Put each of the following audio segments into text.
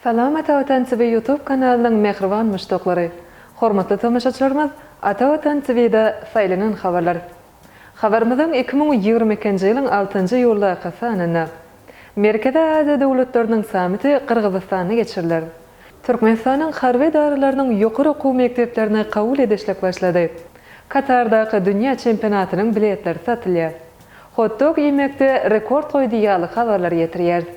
Salam Ata Watan TV YouTube kanalynyň mähriban muşdaklary! Hormatly tomaşaçylarymyz Ata Watan TV-da saýlanan habarlar, Habarymyzyň iki müň ýigrimi ikinji ýylyň altynjy iýuldaky sanynda Merkezi Aziýa döwletleriniň sammiti Gyrgyzystanda geçiriler. Türkmenistanyň harby edaralarynyň ýokary okuw mekdeplerine kabul edişlik başlady. Katardaky dünýä çempionatynyň biletleri satylýar. Hot-dog iýmekde rekord goýdy ýaly habarlary getirýäris.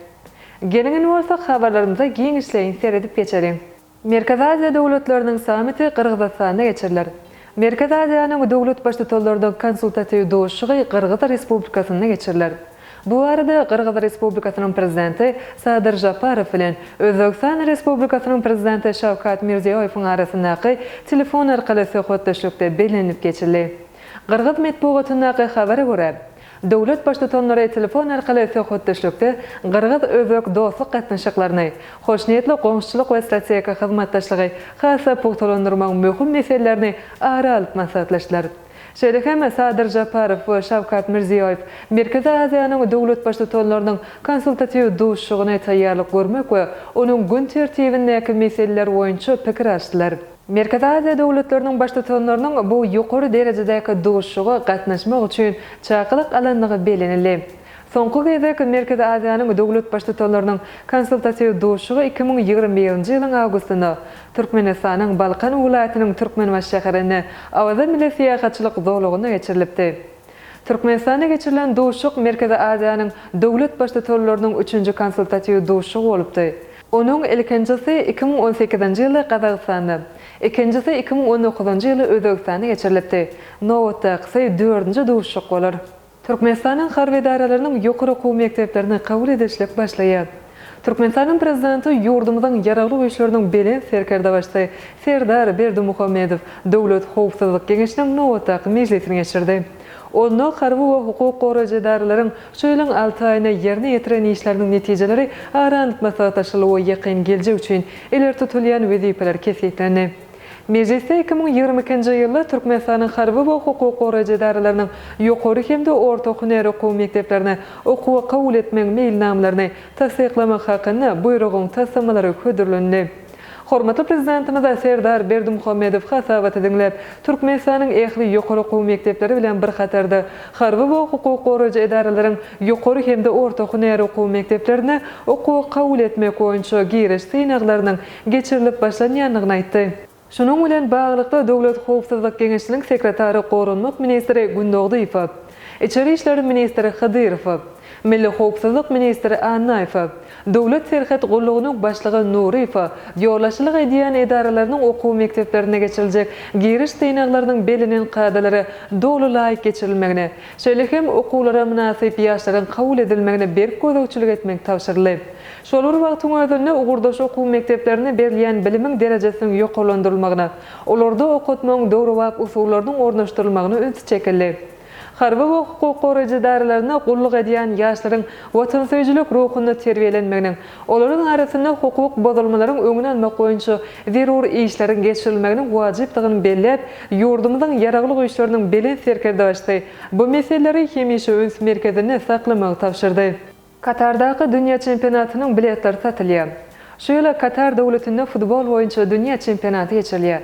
Geliň indi bolsa habarlarymyza giňişleýin seredip geçeliň. Merkezi Aziýa döwletleriniň sammiti Gyrgyzystanda geçiriler. Merkezi Aziýanyň döwlet Baştutanlarynyň konsultatiw duşuşygy Gyrgyz Respublikasynda geçiriler. Bu barada Gyrgyz Respublikasynyň Prezidenti Sadyr Žaparow bilen Özbegistan Respublikasynyň Prezidenti Şawkat Mirziýoýewiň arasyndaky telefon arkaly söhbetdeşlikde bellenilip geçildi. Gyrgyz metbugatyndaky habara görä, Döwlet Baştutanlary telefon arkaly söhbetdeşlikde gyrgyz-özbek dostluk gatnaşyklaryny, hoşniýetli goňşuçylyk we strategik hyzmatdaşlygy has-da pugtalandyrmagyň möhüm meselelerini ara alyp maslahatlaşdylar. Şeýle hem Sadyr Žaparow we Şawkat Mirziýoýew Merkezi Aziýanyň döwlet Baştutanlarynyň konsultatiw duşuşygyny taýýarlyk görmek we onuň gün tertibindäki meseleler boýunça pikir alşdylar. Merkezi Aziýa döwletleriniň Baştutanlarynyň bu ýokary derejedäki duşuşyga gatnaşmak üçin çakylyk alandygy bellenildi. Soňky gezek Merkezi Aziýanyň döwlet Baştutanlarynyň konsultatiw duşuşygy iki müň ýigrimi birinji ýylyň awgustynda Türkmenistanyň Balkan welaýatynyň Türkmenbaşy şäherinde Awaza milli syýahatçylyk zolagynda geçirilipdi. Türkmenistanda geçirilen duşuşyk Merkezi Aziýanyň döwlet Baştutanlarynyň üçünji konsultatiw duşuşygy bolupdy. Onuň ilkinjisi iki müň on sekizinji ýylda Gazagystanda, ikinjisi iki müň on dokuzynjy ýyly Özbegistanda geçirilipdi. Nobatdakysy dördünji duşuşyk bolar. Türkmenistanyň harby edaralarynyň ýokary okuw mekdeplerine kabul edilişlik başlaýar. Türkmenistanyň Prezidenti ýurdumyzyň Ýaragly Güýçleriniň Belent Serkerdebaşysy Serdar Berdimuhamedow Döwlet howpsuzlyk geňeşiniň nobatdaky mejlisini geçirdi. Onda harby we hukuk goraýjy edaralaryň Şu ýylyň alty aýyna ýerine ýetiren işleriniň netijeleri aranlyk maslahatlaşyldy we ýakyn geljek üçin ileri tutulýan wezipeler kesgitlendi. Mejlisde iki müň ýigrimi ikinji ýylda Türkmenistanyň harby we hukuk goraýjy edaralarynyň ýokary hem-de orta hünär okuw mekdeplerine okuwa kabul etmegiň meýilnamalaryny tassyklamak hakynda Buýrugyň taslamalary hödürlendi. Hormatly Prezidentimiz Serdar Berdimuhamedow hasabaty diňläp, Türkmenistanyň ähli ýokary okuw mekdepleri bilen bir hatarda, harby we hukuk goraýjy edaralaryň ýokary hem-de orta hünär okuw mekdeplerine okuwa kabul etmek boýunça giriş synaglarynyň geçirilip başlanýandygyny aýtdy. Şunuň bilen baglylykda, Döwlet howpsuzlyk geňeşiniň sekretary goranmak ministri Gündogdy Ypaw, Içeri işler ministri Hydyrowa, Milli howpsuzlyk ministri Annaýewa, Döwlet serhet gullugynyň başlygy Nuryýewa ýolbaşçylyk edýän edaralarynyň okuw mekdeplerinde geçiriljek giriş synaglarynyň bellenen kadalara doly laýyk geçirilmegine, şeýle hem okuwlara mynasyp ýaşlaryň kabul edilmegine berk gözegçilik etmek tabşyryldy. Şol bir wagtyň özünde ugurdaş okuw mekdeplerinde berilýän bilimiň derejesiniň ýokarlandyrylmagyna, Olarda okatmagyň döwrebap usullarynyň ornaşdyrylmagyna üns çekildi. Harby we hukuk goraýjy edaralarynda gulluk edýän ýaşlaryň watansöýüjilik ruhunda terbiýelenmeginiň, olaryň arasynda hukuk bozulmalaryň öňüni almak boýunça zerur işleriň geçirilmeginiň wajypdygyny belläp, ýurdumyzyň Ýaragly Güýçleriniň Belent Serkerdebaşysy bu meseleleri hemişe üns merkezinde saklamagy tabşyrdy. Katardaky dünýä çempionatynyň biletleri satylýar. Şu ýyl Katar döwletinde futbol boýunça dünýä çempionaty geçirilýär.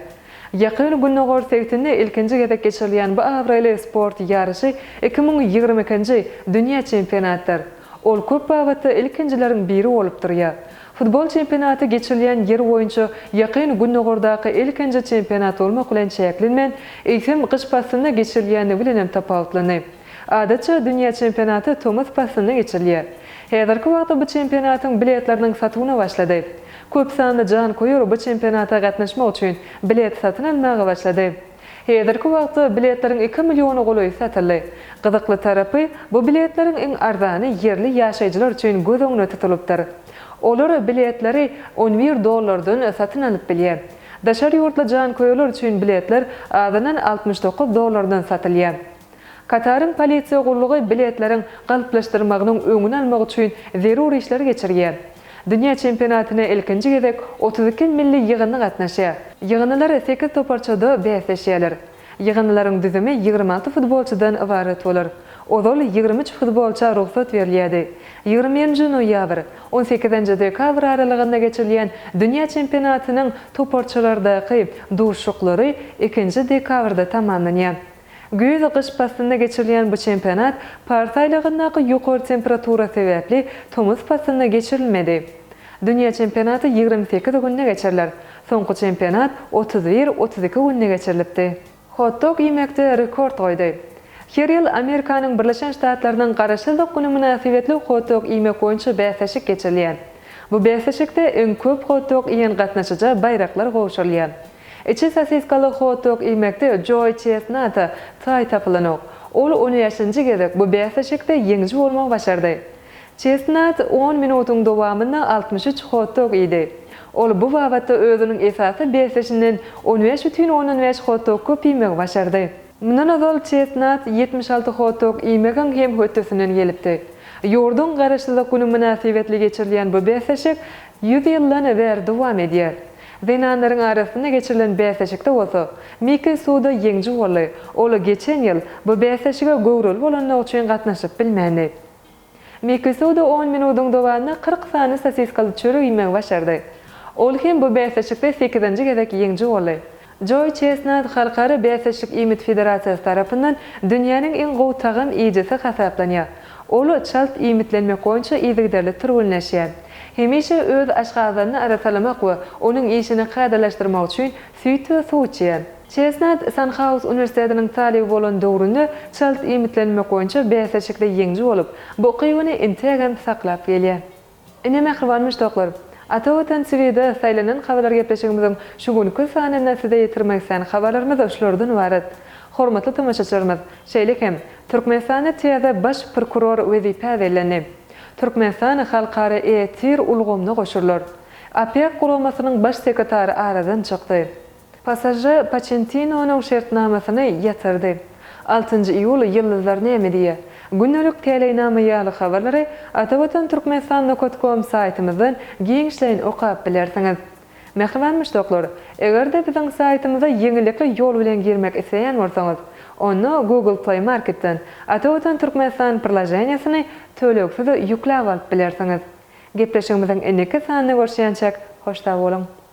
Ýakyn Gündogar sebitinde ilkinji gezek geçirilýän bu abraýly sport ýaryşy iki müň ýigrimi ikinji dünýä çempionatydyr. Ol köp babatda ilkinjileriň biri bolup durýar. Futbol çempionaty geçirilýän ýer boýunça Ýakyn Gündogardaky ilkinji çempionat bolmak bilen çäklenmän, eýsem, gyş paslynda geçirilýändigi bilenem tapawutlandy. Adatça, dünýä çempionaty tomus paslynda geçirilýär. Häzirki wagtda bu çempionatyň biletleriniň satuwyna başlady. Köp sanly janköýer bu çempionata gatnaşmak üçin bilet satyn almaga başlady. Häzirki wagtda biletleriň iki milliona golaýy satyldy. Gyzykly tarapy, bu biletleriň iň arzany ýerli ýaşaýjylar üçin göz öňüne tutulypdyr. Olar biletleri on bir dollardan satyn alyp bilýär. Daşary ýurtly janköýerler üçin biletler azyndan altmyş dokuz dollardan satylýar. Kataryň polisiýa gullugy biletleriň galplaşdyrmagynyň öňüni almak üçin zerur işleri geçirýär. Dünýä çempionatyna ilkinji gezek otuz iki milli ýygyndy gatnaşýar. Ýygyndylar sekiz toparçada bäsleşýärler. Ýygyndylaryň düzümi ýigrimi alty futbolçydan ybarat bolar. Ozal ýigrimi üç futbolça rugsat berilýärdi. Ýigrimi birinji noýabr, on sekizinji dekabr aralygynda geçirilýän dünýä çempionatynyň toparçalardaky duşuşyklary ikinji dekabrda tamamlanýar. Güýz-gyş paslynda geçirilýän bu çempionat pars aýlagyndaky ýokary temperatura sebäpli tomus paslynda geçirilmedi. Dünýä çempionaty ýigrimi sekiz günde geçiriler. Soňky çempionat otuz bir, otuz iki günde geçirilipdi. Hot-dog iýmekde rekord goýdy. Her ýyl Amerikanyň Birleşen Ştatlarynyň Garaşsyzlyk güni mynasybetli hot-dog iýmek boýunça bäsleşik geçirilýär. Bu bäsleşikde iň köp hot-dog iýen gatnaşyja baýraklar gowşurylýar. Içi sosiskaly hot-dog iýmekde Joe Chestnut-a taý tapylanok. Ol on bäşinji gezek bu bäsleşikde ýeňiji bolmagy başardy. Chestnut on minutyň dowamynda altmyş üç hot-dog iýdi. Ol bu babatda özüniň esasy bäsdeşinden on bäş bütin ondan bäş hot-dog köp iýmegi başardy. Mundan ozal Chestnut ýetmiş alty hot-dog iýmegiň hem hötdesinden gelipdi. Ýurduň Garaşsyzlyk güni mynasybetli geçirilýän bu bäsleşik ýüz ýyldan bäri dowam edýär. Zenanlaryň arasynda geçirilen bäsleşikde bolsa, Miki Suda ýeňiji boldy. Ol geçen ýyl bu bäsleşige göwreli bolandygy üçin gatnaşyp bilmändi. Miki Suda on minudyň dowamynda kyrk sany sosiskaly çörek iýmegi başardy. Ol hem bu bäsleşikde sekizinji gezek ýeňiji boldy. Joe Chestnut Halkara bäsleşik iýmit federasiýasy tarapyndan dünýäniň iň gowy tagam iýijisi hasaplanýar. Ol çalt iýmitlenmek boýunça yzygiderli türgenleşýär. Hemişe öz aşgazanyny arassalamak we onuň işini kadalaşdyrmak üçin süýt we suw içýär. Chestnut Sanhaus uniwersitetiniň talyby bolan döwründe çalt iýmitlenmek boýunça bäsleşikde ýeňiji bolup, bu ukybyny integem saklap gelýär. Ine mähriban muşdaklar! Ata Watan TV-de saýlanan habarlar gepleşigimiziň şu günki sanynda size ýetirmek islän habarlarymyz şulardan ybarat. Hormatly tomaşaçylarymyz, şeýle hem, Türkmenistanda täze baş prokuror wezipä bellendi. Türkmenistan halkara e-tir ulgamyna goşulyr. OPEC guramasynyň baş sekretary aradan çykdy. Pasaža Poçentinonyň şertnamasyny ýatyrdy. Altynjy iýul Ýyldyzlar näme diýýär? Gündelik teleýnama ýaly habarlary Atavatan Türkmenistan nokot kom saýtymyzdan giňişleýin okap bilersiňiz. Mähriban muşdaklar, eger-de biziň saýtymyza ýeňillikli ýol bilen girmek isleýän bolsaňyz, onda Google Play Marketden Atavatan Türkmenistan priloženiýesini tölegsiz ýükläp alyp bilersiňiz. Gepleşigimiziň indiki sanynda görşýänçäk hoş sag boluň!